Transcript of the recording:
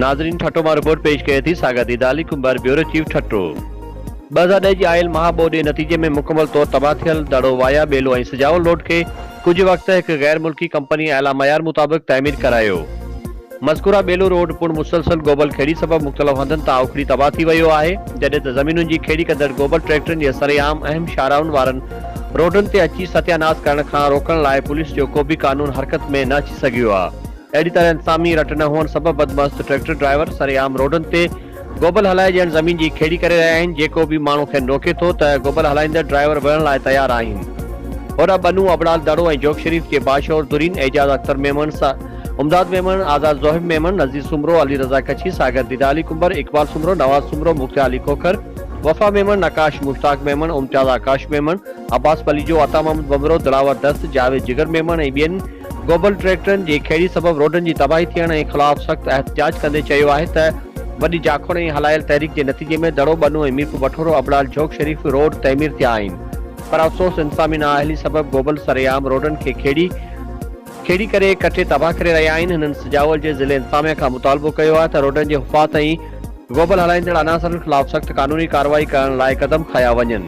ناظرين ٺٽو مان رپورٽ پيش ڪري ٿي ساگر ديدا علي ڪنڀر بيورو چيف ٺٽو ٻه هزار ڏهه جي آيل مها ٻوڏ جي نتيجي ۾ مڪمل طور تباهه ٿيل دڙو وايا ٻيلو ۽ سجاول روڊ کي ڪجهه وقت هڪ غير ملڪي ڪمپني اعليٰ معيار مطابق تعمير ڪرايو. مذڪوره ٻيلو روڊ پڻ مسلسل گوبل کيڙي سبب مختلف هنڌن تان اکڙي تباهه ٿي ويو آهي، جڏهن ته زمينن جي کيڙي ڪندڙ گوبل ٽريڪٽرن جي سري عام اهم شاهراهن وارن روڊن تي اچي ستيا ناس ڪرڻ کان روڪڻ لاء پوليس جو ڪوبه قانون حرڪت ۾ نه اچي سگهيو آهي. اهڙي طرح انتظامي رٽ نه هئڻ سبب بدمست ٽريڪٽر ڊرائيور سري عام روڊن تي گوبل هلائي ڄڻ زمين جي کيڙي ڪري رهيا آهن، جيڪو به ماڻهو کين روڪي ٿو ته گوبل هلائيندڙ ڊرائيور وڙهڻ لاء تيار آهن. هوڏانهن ٻنو ابڙال دڙو ۽ جوڳ شريف جي باشعور ڌرين اعجاز اختر ميمڻ، امداد ميمڻ، آزاد زوهب ميمڻ، نذير سومرو، علي رضا ڪڇي، ساگر ديده علي ڪنڀر، اقبال سومرو، نواز سومرو، مختيار علي کوکر، وفا ميمڻ، نقاش مشتاق ميمڻ، امتياز آڪاش ميمڻ، عباس پليجو، عطا محمد ٻنڀرو، دلاور دست، جاويد جگر ميمڻ ۽ ٻين گوبل ٽريڪٽرن جي کيڙي سبب روڊن جي تباهي ٿيڻ ۽ خلاف سخت احتجاج ڪندي چيو آهي ته وڏي جاکوڙ ۽ هلايل تحريڪ جي نتيجي ۾ دڙو ٻنو ۽ ميرپور بٺورو ابڙال جھوڪ شريف روڊ تعمير ٿيا آهن پر افسوس انتظامي نااهلي سبب گوبل سرعام روڊن کي کيڙي کيڙي ڪري ڪٽي تباهه ڪري رهيا آهن هنن سجاول جي ضلعي انتظاميه کان مطالبو ڪيو آهي ته روڊن جي حفاظت ۽ گوبل هلائيندڙ عناصرن خلاف سخت قانوني ڪارروائي ڪرڻ لاء قدم کنيا وڃن.